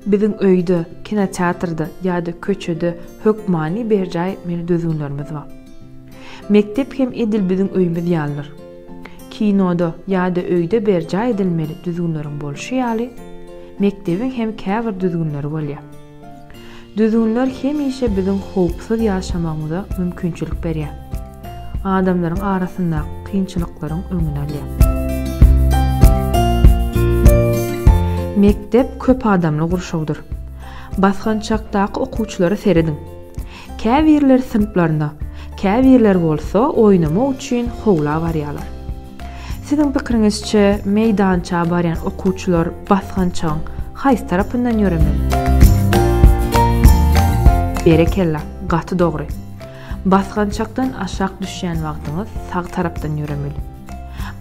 Biziň öýde, kinoteatrda ýa-da köçede hökmany berjaý etmeli düzgünlerimiz bar. Mekdep hem edil biziň öýümiz ýalydyr. Kinoda ýa-da öýde berjaý edilmeli düzgünleriň bolşy ýaly, mekdebiň hem käbir düzgünleri bolýar. Düzgünler hemişe biziň howpsuz ýaşamagymyza mümkinçilik berýär. Adamlaryň arasyndaky kynçylyklaryň öňüni alýar. Mekdep köp adamly gurşawdyr. Basgançakdaky okuwçylara serediň. Käbirleri synplaryna, käbirleri bolsa oýnamak üçin howla barýarlar. Siziň pikiriňizçe, meýdança barýan okuwçylar basgançagyň haýsy tarapyndan ýöremeli? Berekella, gaty dogry. Basgançakdan aşak düşýän wagtyňyz sag tarapdan ýöremeli.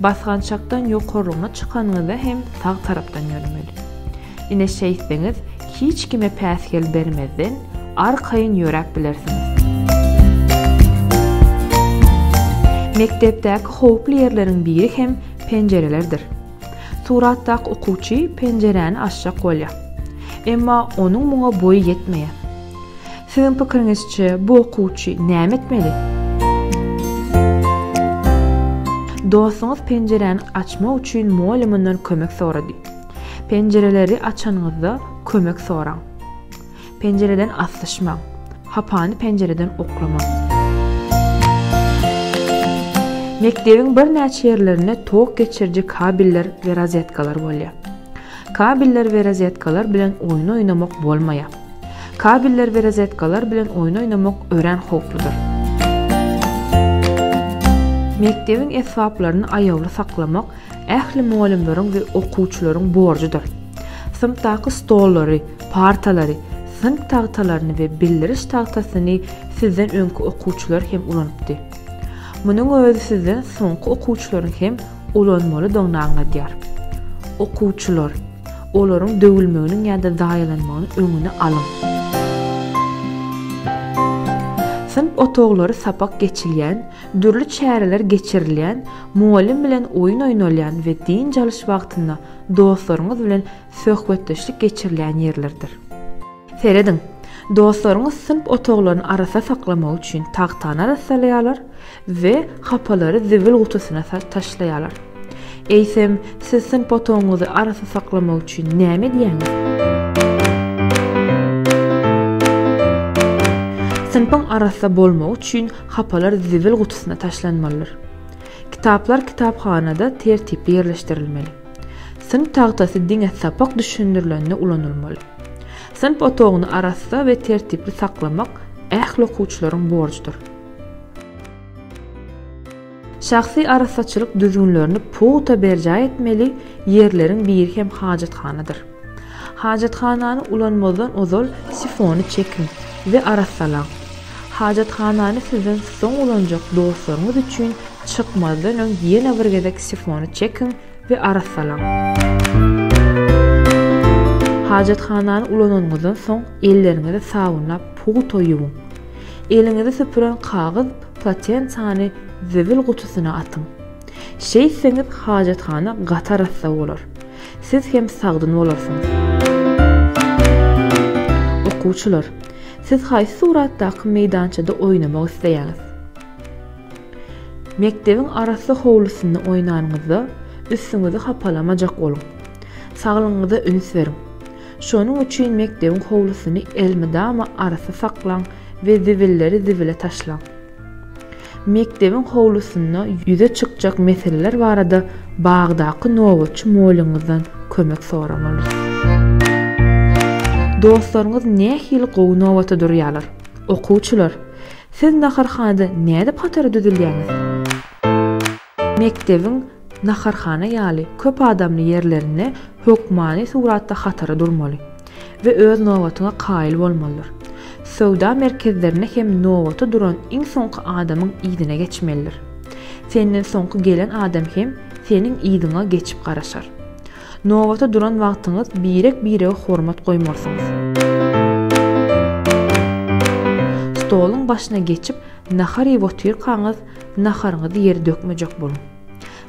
Basgançakdan ýokarlygyna çykanyňyzda hem sag tarapdan ýöremeli. Ine şeýtseňiz, hiç kime päsgel bermezden, arkaýyn ýöräp bilersiňiz. Mekdepdäki howply ýerleriň biri hem penjirelerdir. Suratdaky okuwçy penjiräni açjak bolýar. Emma onuň muňa boýy ýetmeýär. Siziň pikiriňizçe, bu okuwçy näme etmeli? Dostuňyz penjiräni açmak üçin mugallymyndan kömek sorady. Penjireleri açanyňyzda kömek soraň. Penjireden aslyşmaň. Hapany penjireden oklamaň. Mekdebiň birnäçe ýerlerinde tok geçiriji kabeller we rozetkalar bolýar. Kabeller we rozetkalar bilen oýun oýnamak bolmaýar. Kabeller we rozetkalar bilen oýun oýnamak örän howpludyr. Mekdebiň esbaplaryny aýawly saklamak ähli mugallymlaryň we okuwçylaryň borjudyr. Synpdaky stollary, partalary, synp tagtalaryny we bildiriş tagtasyny sizden öňki okuwçylar hem ulanypdy. Munuň özi sizden soňky okuwçylaryň hem ulanmalydygyny aňladýar. Okuwçylar, olaryň döwülmeginiň ýa-da zaýalanmagynyň öňüni alyň. Synp otaglary sapak geçilýän, Dürli çäreler geçirilýän, mugallym bilen oýun oýnalýan we dynç alyş wagtynda dostlaryňyz bilen söhbetdeşlik geçirilýän ýerlerdir. Serediň, dostlaryňyz synp otaglaryny arassa saklamak üçin tagtany arassalaýarlar we hapalary zibil gutusyna taşlaýarlar. Eýsem, siz synp otagyňyzy arassa saklamak üçin näme edýäňiz? Synpyň arassa bolmagy üçin Hapalar zibil gutusyna taşlanmalydyr. Kitaplar kitaphanada tertipli ýerleşdirilmeli. Synp tagtasy diňe sapak düşündirilende ulanylmaly. Synp otagyny arassa we tertipli saklamak ähli okuwçylaryň borjudyr. Şahsy arassaçylyk düzgünlerini pugta berjaý etmeli ýerleriň biri hem hajathanadyr. Hajathanany ulanmazdan ozal sifony çekiň we arassalaň. Hajathanany sizden soň ulanjak dostlaryňyz üçin çykmazdan öň ýene bir gezek sifony çekiň we arassalaň. Hajathanany ulananyňyzdan soň elleriňizi sabynlap pugta ýuwuň. Eliňizi süpüren kagyz Platensany zibil gutusyna atyň. Şeýtseňiz hajathana gaty arassa bolar. Siz hem sagdyn bolarsyňyz. Okuwçylar, siz haýsy suratdaky meýdançada oýnamak isleýäňiz? Mekdebiň arassa howlusynda oýnanyňyzda, üstüňizi hapalamajak boluň. Saglygyňyza üns beriň. Şonuň üçin mekdebiň howlusyny elmydama arassa saklaň we zibilleri zibile taşlaň. Mekdebiň howlusynda ýüze çykjak meseleler barada bagdaky nobatçy molyňyzdan kömek soramaly. Dostlaryňyz nähili gowy nobata durýarlar? Okuwçylar, siz naharhanada nädip hatara düzülýäňiz? Mekdebiň naharhana ýaly köp adamly ýerlerinde hökmany suratda hatara durmaly we öz nobatyňa kaýyl bolmalydyr. Söwda merkezlerinde hem nobata duran iň soňky adamyň yzyna geçmelidir. Senden soňky gelen adam hem seniň yzyňa geçip garaşar. Nobata duran wagtyňyz birek-birege hormat goýmalysyňyz. Stoluň başyna geçip nahar iýip otyrkaňyz, Naharyňyzy ýere dökmejek boluň.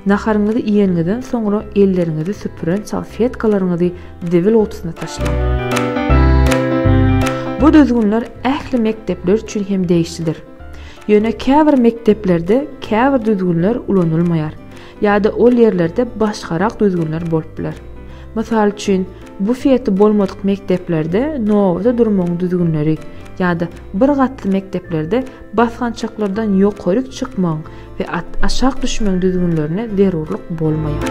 Naharyňyzy iýeniňizden soňra elleriňizi süpüren salfetkalaryňyzy zibil gutusyna taşlaň. Bu düzgünler ähli mekdepler üçin hem degişlidir. Ýöne käbir mekdeplerde käbir düzgünler ulanylmaýar ýa-da ol ýerlerde başgarak düzgünler bolup biler. Mysal üçin, bufeti bolmadyk mekdeplerde nobata durmagyň düzgünleri ýa-da bir gatly mekdeplerde Basgançaklardan ýokaryk çykmagyň we aşak düşmegiň düzgünlerine zerurlyk bolmaýar.